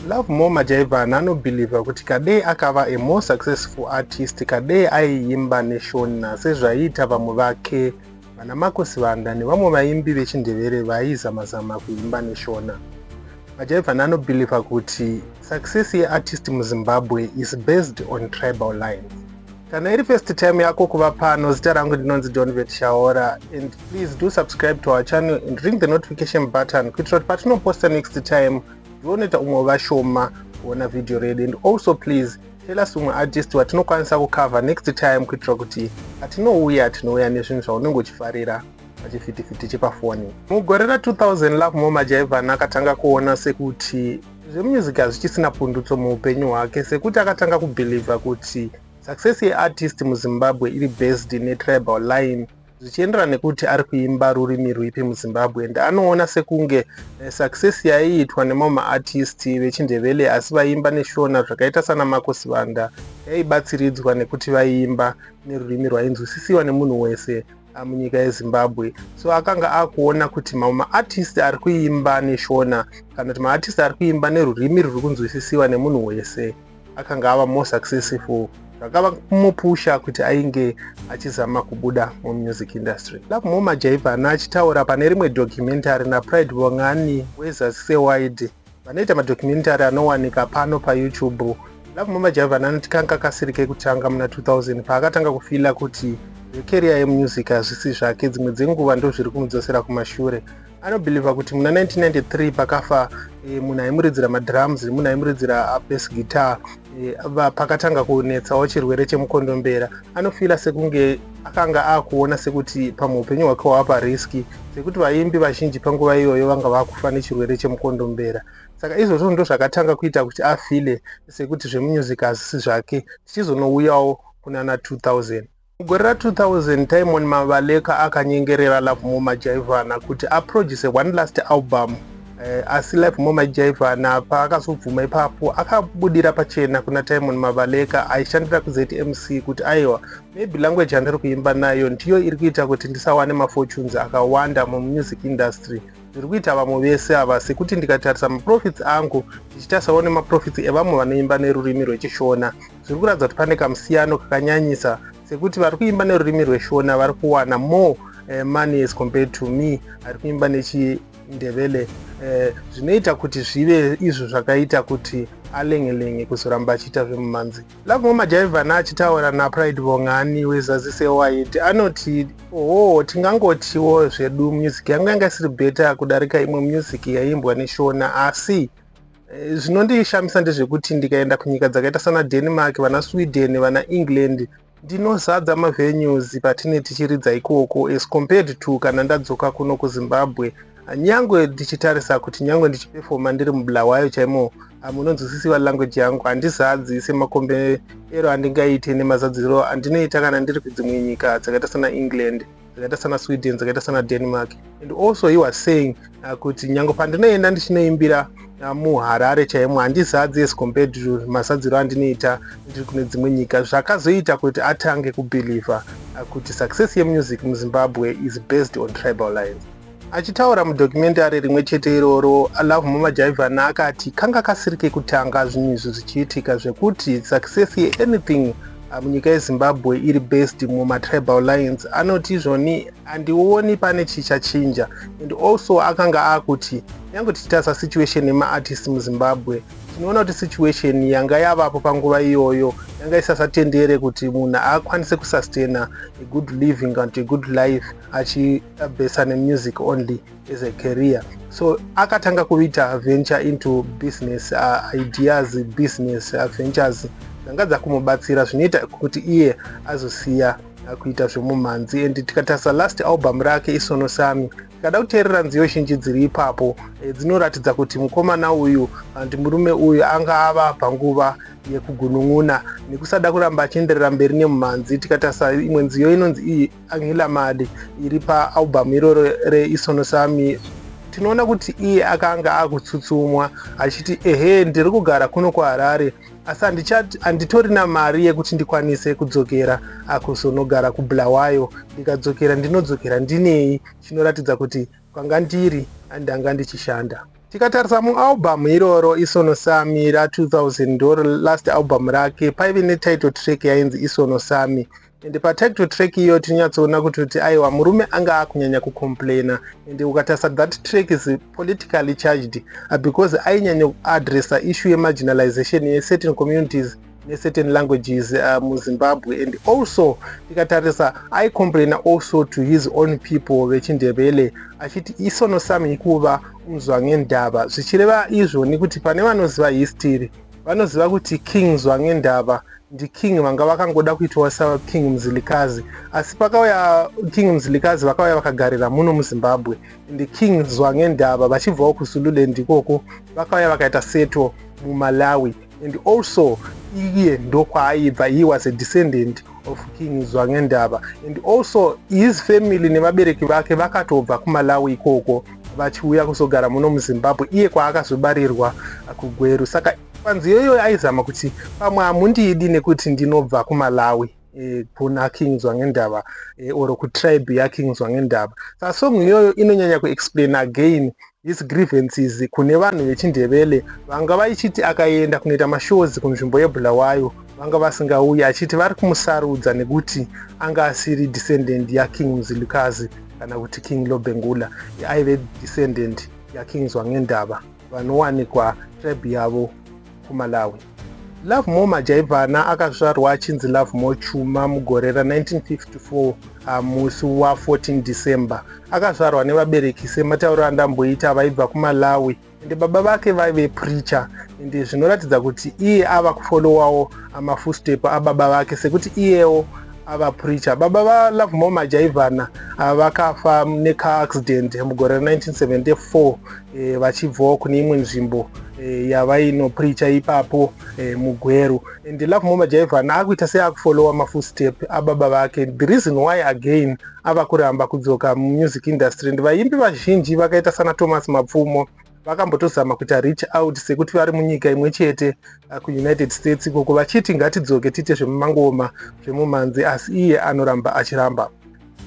Love More Majaivana anobhilivha kuti Kadee akava a more successful artist Kadee aiimba neShona sezvaiita vamwe vake vana Marco Sibanda nevamwe vaimbi vechiNdevere vaizama-zama kuimba neShona. Majaivana anobhilivha kuti success yeartist muZimbabwe is based on tribal lines. Kana iri first time yako kuva pano, zita rangu ndinonzi Donvet Shaora and please do subscribe to our channel and ring the notification button kuitira kuti patinoposta next time zvioneta umwe vashoma kuona video redu and also please tell us umwe artist watinokwanisa kucover next time kuitira kuti atinouya tinouya nezvinhu zvaunenge uchifarira pachifitifitti chepafoni mugore ra2000 love moma jaivan akatanga kuona sekuti zvemusic hazvichisina pundutso muupenyu hwake sekuti akatanga kubhilivha kuti success yeartist muzimbabwe iri based netribal line zvichienderana nekuti ari kuimba rurimi rwipi muzimbabwe and anoona sekunge eh, success yaiitwa nemamwe maartist vechindevele asi vaiimba neshona zvakaita sana mako sivanda yaibatsiridzwa nekuti vaiimba nerurimi rwainzwisisiwa nemunhu wese ah, munyika yezimbabwe so akanga akuona kuti mamwe maartist ari kuimba neshona kana kuti maartist ari kuimba nerurimi ruri kunzwisisiwa nemunhu wese akanga ava more successful zvakava kumupusha kuti ainge achizama kubuda mumusic industry lakumo majaivhana achitaura pane rimwe documentary napride vongani wezasi sewide vanoita madocumentary anowanika pano payoutube lakumo majaivhana anoti kanga kasiri kekutanga muna 2000 paakatanga kufila kuti zvekeriya yemusic hazvisi zvake dzimwe dzenguva ndozviri kumudzosera kumashure anobhilivha kuti muna 1993 pakafa e, munhu aimuridzira madrums munhu aimuridzira abes uh, guitar e, pakatanga kunetsawo chirwere chemukondombera anofila sekunge akanga akuona sekuti pamwe upenyu hwake hwava pariski sekuti vaimbi vazhinji panguva iyoyo vanga vakufa nechirwere chemukondombera saka izvozvo ndo zvakatanga kuita kuti afile sekuti zvemunyuzic hazisi zvake tichizonouyawo kunana 2000 Mugore ra 2000, Tymon Mabaleka akanyengerera Lovemore Majaivana kuti aproduse one last album. Eh, asi Lovemore Majaivana paakazobvuma ipapo, akabudira pachena kuna Tymon Mabaleka aishandira kuZMC kuti aiwa, maybe language yandiri kuimba nayo ndiyo iri kuita kuti ndisawane mafortunes akawanda mumusic industry zviri kuita vamwe vese ava sekuti ndikatarisa maprofits angu ndichitarisawo nemaprofits evamwe vanoimba nerurimi rwechishona zviri kuratidza kuti pane kamusiyano kakanyanyisa sekuti vari kuimba nerurimi rweshona vari kuwana more uh, money as compared to me ari kuimba nechindevele eh, zvinoita uh, kuti zvive izvo zvakaita kuti alengelenge kuzoramba achiita zvemumanzi lakumwe majaivhana achitaura napride vongani wezazi sewid anoti oho tingangotiwo zvedu music yangu yanga isiri beta kudarika imwe music yaiimbwa neshona asi Eh, zvinondishamisa ndezvekuti ndikaenda kunyika dzakaita sana denmark vana sweden vana england ndinozadza mavenues patine tichiridza ikoko as compared to kana ndadzoka kuno kuzimbabwe nyangwe ndichitarisa kuti nyangwe ndichipefoma ndiri mubulawayo chaimo ah, munonzwisisiwa language yangu handizadzi semakombe ero andingaite nemazadziro andinoita kana ndiri kudzimwe nyika dzakaita sana england dzakaita sana sweden dzakaita sana denmark and also he was saying uh, kuti nyange pandinoenda ndichinoimbira uh, muharare chaimo handizadzi as compared to mazadziro andinoita ndiri kune dzimwe nyika zvakazoita kuti atange kubhilivha uh, kuti success yemusic muzimbabwe is based on tribal lines Achitaura mudocumentary rimwe chete iroro, Love Mumajaivana akati kanga kasiri kekutanga zvinhu izvi zvichiitika zvekuti success yeanything ah, munyika yezimbabwe iri based mumatribal lines anoti izvoni handioni pane chichachinja and also akanga akuti nyange tichitarisa situation yemaartist muzimbabwe tinoona kuti situation yanga yavapo panguva iyoyo yanga isasatendere kuti munhu akwanise kusustaina a good living and a good life achi Besane music only as a career so akatanga kuita venture into business uh, ideas business uh, ventures dzanga dzakumubatsira zvinoita kuti iye azosiya uh, kuita zvemumhanzi and tikatarisa last album rake isono sami tikada kuteerera nziyo zhinji dziri ipapo eh, dzinoratidza kuti mukomana uyu hanti murume uyu anga ava panguva yekugunun'una nekusada kuramba achienderera mberi nemumhanzi tikatarisa imwe nziyo inonzi iyi Angela Mali iri paalbhamu iroro reIsono Sami tinoona kuti iye akanga akutsutsumwa achiti ehe ndiri kugara kuno kuharare asi handitorina mari yekuti ndikwanise kudzokera akuzonogara kubulawayo ndikadzokera ndinodzokera ndinei chinoratidza kuti kwanga ndiri andanga ndichishanda tikatarisa mualbhamu iroro isono sami ra 2000 ndoro last albhamu rake paive netitle track yainzi isono sami and patag to track iyo tinonyatsoona kuti kuti aiwa murume anga akunyanya kucomplaina and ukatarisa that track is politically charged uh, because ainyanya kuadressa issue yemarginalization yecertain communities necertain languages uh, muzimbabwe and also tikatarisa aicomplaina also to his own people vechindevele achiti isono sami ikuva unzwa ngendava zvichireva izvo nekuti pane vanoziva history vanoziva kuti king zwangendava ndiking vanga vakangoda kuitwa saking mzilikazi asi pakauya king mzilikazi vakauya vakagarira muno muzimbabwe and king zwangendava vachibvawo kuzululand ikoko vakauya vakaita seto mumalawi and also iye ndokwaaibva he was a descendant of King Zwangendaba and also his family nevabereki vake vakatobva kuMalawi ikoko vachiuya kuzogara muno muZimbabwe iye kwaakazobarirwa kuGweru saka panzi iyoyo aizama kuti pamwe hamundidi nekuti ndinobva kuMalawi eh, kuna King Zwangendaba eh, or kutribe yaKing Zwangendaba sasong iyoyo inonyanya kuexplain again His grievances kune vanhu vechindevele vanga vaichiti akaenda kunoita mashows kunzvimbo yebulawayo vanga vasingauyi achiti vari kumusarudza nekuti anga asiri descendant yaking mzilukazi kana kuti king lobengula aive descendant yaking zwangendava vanowanikwa tribe yavo kuMalawi. Lovemore Majaivana akazvarwa achinzi Lovemore Chuma mugore ra 1954 ah, musi wa 14 December. Akazvarwa nevabereki sematauro andamboita vaibva kuMalawi ende baba vake vaive preacher ende zvinoratidza kuti iye ava kufolowawo ah, mafustep ababa vake sekuti iyewo ava preacher. Baba va Lovemore Majaivana ah, vakafa neka accident mugore ra 1974 e, vachibvawo kune imwe nzvimbo e, yavainopricha ipapo e, mugweru and love moma jaivan akuita seakufolowa mafootstep ababa vake the reason why again ava kuramba kudzoka mumusic industry and vaimbi vazhinji vakaita sana thomas mapfumo vakambotozama kuita reach out sekuti vari munyika imwe chete uh, kuunited states ikoko vachiti ngatidzoke tiite zvemumangoma zvemumanzi asi iye anoramba achiramba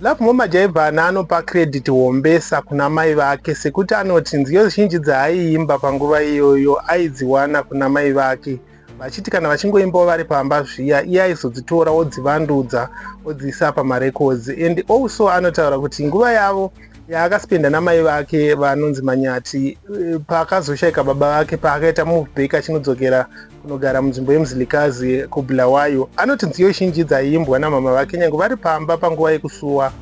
Lovemore Majaivhana anopa credit hombesa kuna mai vake sekuti anoti nziyo zhinji dzaaiimba panguva iyoyo aidziwana kuna mai vake vachiti kana vachingoimbawo vari pamba zviya iye aizodzitora odzivandudza odziisa pamarecords and also anotaura kuti nguva yavo yaakaspenda namai vake vanonzi manyati eh, paakazoshaika baba vake paakaita move back achinodzokera unogara munzvimbo yemuzilikazi kubulawayo anoti nziyo zhinji dzaiimbwa namama vake nyange vari pamba panguva yekusuwa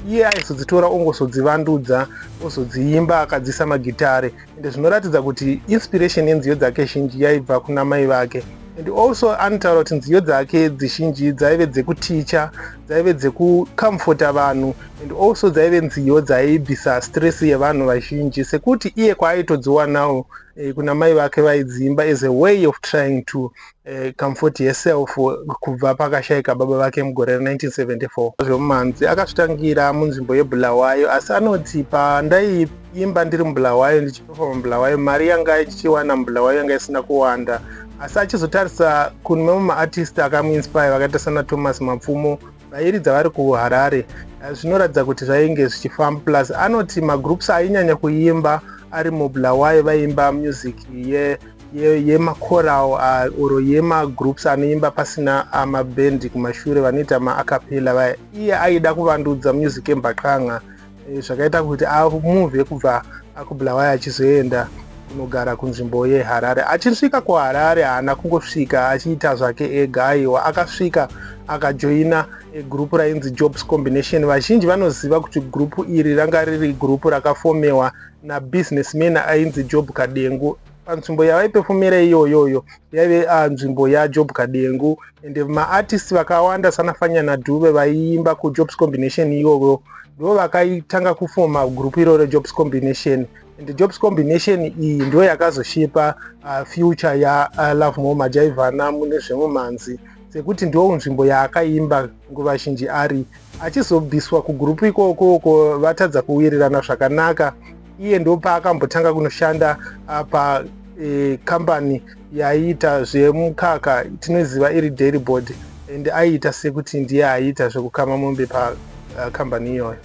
iye aizodzitora ongozodzivandudza ozodziimba akadzisa magitare ende zvinoratidza kuti inspiration yenziyo dzake zhinji yaibva kuna mai vake and also anotaura kuti nziyo dzake dzizhinji dzaive dzekuticha dzaive dzekucomforta vanhu and also dzaive nziyo dzaibvisa stress yevanhu vazhinji sekuti iye kwaaitodziwanawo eh, kuna mai vake vaidziimba as a way of trying to uh, comfort herself kubva pakashaika baba vake mugore ra 1974 zvemumanzi akazvitangira munzvimbo yebulawayo asi anoti pandaiimba ndiri mubulawayo ndichipefoma mubulawayo mari yanga ichiwana mubulawayo yanga isina kuwanda asi achizotarisa kune mamwe maartist akamuinspire vakaita sana thomas mapfumo vairidza vari kuharare eh, zvinoratidza kuti zvainge zvichifamba plus anoti magroups ainyanya kuimba ari mubulawayo vaiimba music ye yemacoral ye ah, or yemagroups anoimba pasina ah, mabendi kumashure vanoita maacapella vaya iye aida kuvandudza music yembaqanga eh, zvakaita kuti amuvhe kubva akubulawayo achizoenda kunogara kunzvimbo yeharare achisvika kuharare haana kungosvika achiita zvake ega aiwa akasvika akajoina egurupu rainzi jobs combination vazhinji vanoziva kuti gurupu iri ranga riri gurupu rakafomewa nabusinessman ainzi job kadengu panzvimbo yavaipefumira iyoyoyo yaive ah, nzvimbo yajob kadengu ende maartist vakawanda sana fanyana dube vaiimba kujobs combination iyoyo ndo vakaitanga kufoma group iroro jobs combination and jobs combination iyi ndo yakazoshipa uh, future ya uh, love more majaivana mune zvemumanzi sekuti ndo nzvimbo yaakaimba nguva zhinji ari achizobviswa kugroup ikoko uko vatadza kuwirirana zvakanaka iye ndo paakambotanga kunoshanda uh, pa eh, company yaiita zvemukaka tinoziva iri dairy board and aiita sekuti ndiye aiita zvekukama mombe pakambani uh, iyoyo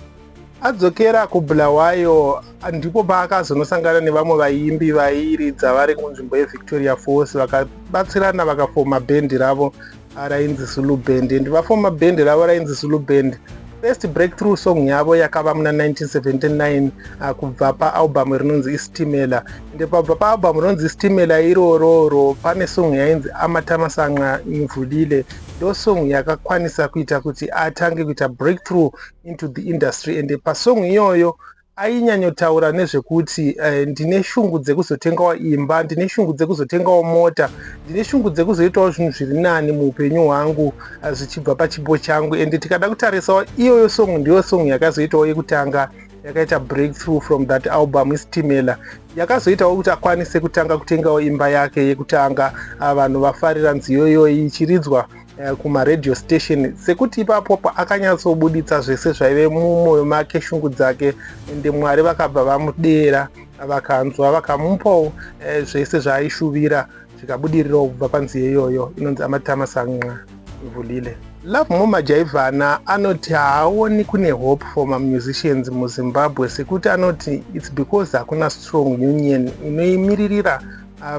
adzokera kubulawayo ndipo paakazonosangana nevamwe vaimbi vairidza vari kunzvimbo yevictoria falls vakabatsirana vakafoma bhendi ravo rainzi zulu band and vafoma band ravo rainzi zulu band first breakthrough song yavo yakava muna 1979 ah, kubva paalbum rinonzi istimela ende pabva paalbum rinonzi istimela irororo pane song yainzi amatamasanqa imvulile ndo song yakakwanisa kuita kuti atange kuita breakthrough into the industry ende pasong iyoyo ainyanyotaura nezvekuti eh, ndine shungu dzekuzotengawo imba ndine shungu dzekuzotengawo mota ndine shungu dzekuzoitawo zvinhu zviri nani muupenyu hwangu eh, zvichibva pachipo changu and tikada kutarisawo iyoyo song ndiyo song yakazoitawo yekutanga yakaita breakthrough from that album isitimela yakazoitawo kuti akwanise kutanga kutengawo imba yake yekutanga ah, vanhu vafarira nziyo iyoyi ichiridzwa eh, kumaradio station sekuti ipapo akanyatsobuditsa zvese zvaive mumwoyo make shungu dzake ende mwari vakabva vamudeera vakanzwa vakamupawo eh, zvese zvaaishuvira zvikabudirirawo kubva panzi yeyoyo inonzi amatama sanqa ivulile love moma jaivhana anoti haaoni kune hope for mamusicians muzimbabwe sekuti anoti its because hakuna strong union inoimiririra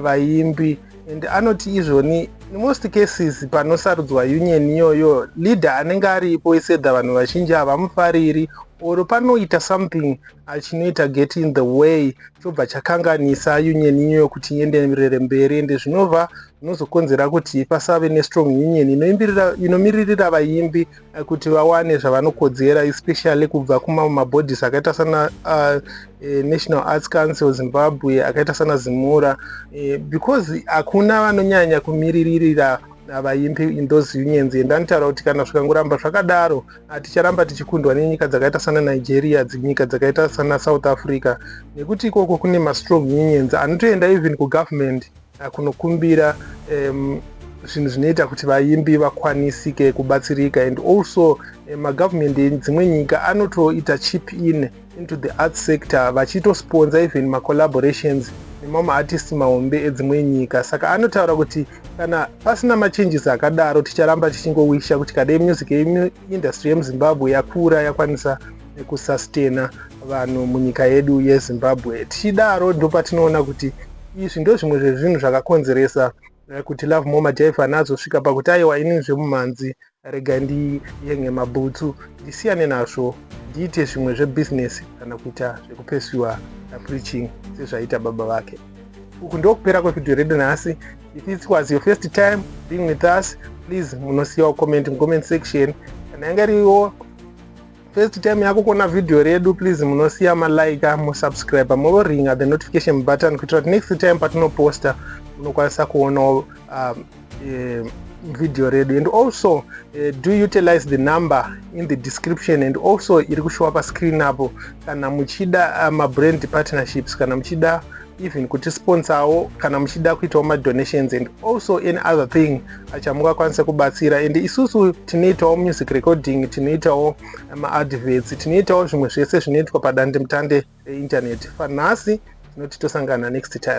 vaimbi and anoti izvoni in most cases panosarudzwa union iyoyo leader anenge aripo isedha vanhu vazhinji havamufariri or panoita something achinoita get in the way chobva chakanganisa union iyoyo kuti ienderere mberi ende zvinova zvinozokonzera kuti pasave nestrong union inomiririra vaimbi kuti vawane zvavanokodzera especially kubva kumamwe mabodies akaita sana uh, eh, national arts council zimbabwe akaita sana zimura eh, because hakuna vanonyanya kumiriririra vaimbi in those unions and anotaura kuti kana zvikangoramba zvakadaro haticharamba tichikundwa nenyika dzakaita sana nigeria dzinyika dzakaita sana south africa nekuti ikoko kune mastrong unions anotoenda even kugovernment kunokumbira um, zvinhu zvinoita kuti vaimbi vakwanisike kubatsirika and also eh, magovernment edzimwe nyika anotoita chip in into the art sector vachitosponza even macollaborations nemamwe maartisti mahombe edzimwe nyika saka anotaura kuti kana pasina machanges akadaro ticharamba tichingowisha kuti kadai music industry yemuzimbabwe yakura yakwanisa nekusastena vanhu munyika yedu yezimbabwe tichidaro ndopatinoona kuti izvi ndozvimwe zvezvinhu zvakakonzeresa eh, kuti love moma jaifan azosvika pakuti aiwa ini zvemumhanzi rega ndiyenge mabhutsu ndisiyane nazvo ndiite zvimwe zvebhizinesi kana kuita zvekupesiwa napreaching sezvaiita baba vake uku ndokupera kwevhidhiyo redu nhasi if it was your first time being with us please munosiyawo comment mucomment section kana yanga iriwo First time yako kuona video redu please munosiya malike musubscribe moringa the notification button kuitira kuti next time patinoposta unokwanisa kuonawo um, eh, video redu and also eh, do utilize the number in the description and also iri kushowa pascreen apo kana muchida uh, mabrand partnerships kana muchida even kuti sponsawo kana muchida kuitawo madonations and also any other thing achamungakwanisa kubatsira and isusu tinoitawo music recording tinoitawo maadverts tinoitawo zvimwe zvese zvinoitwa padandemutande reinternet fanhasi tinoti tosangana next time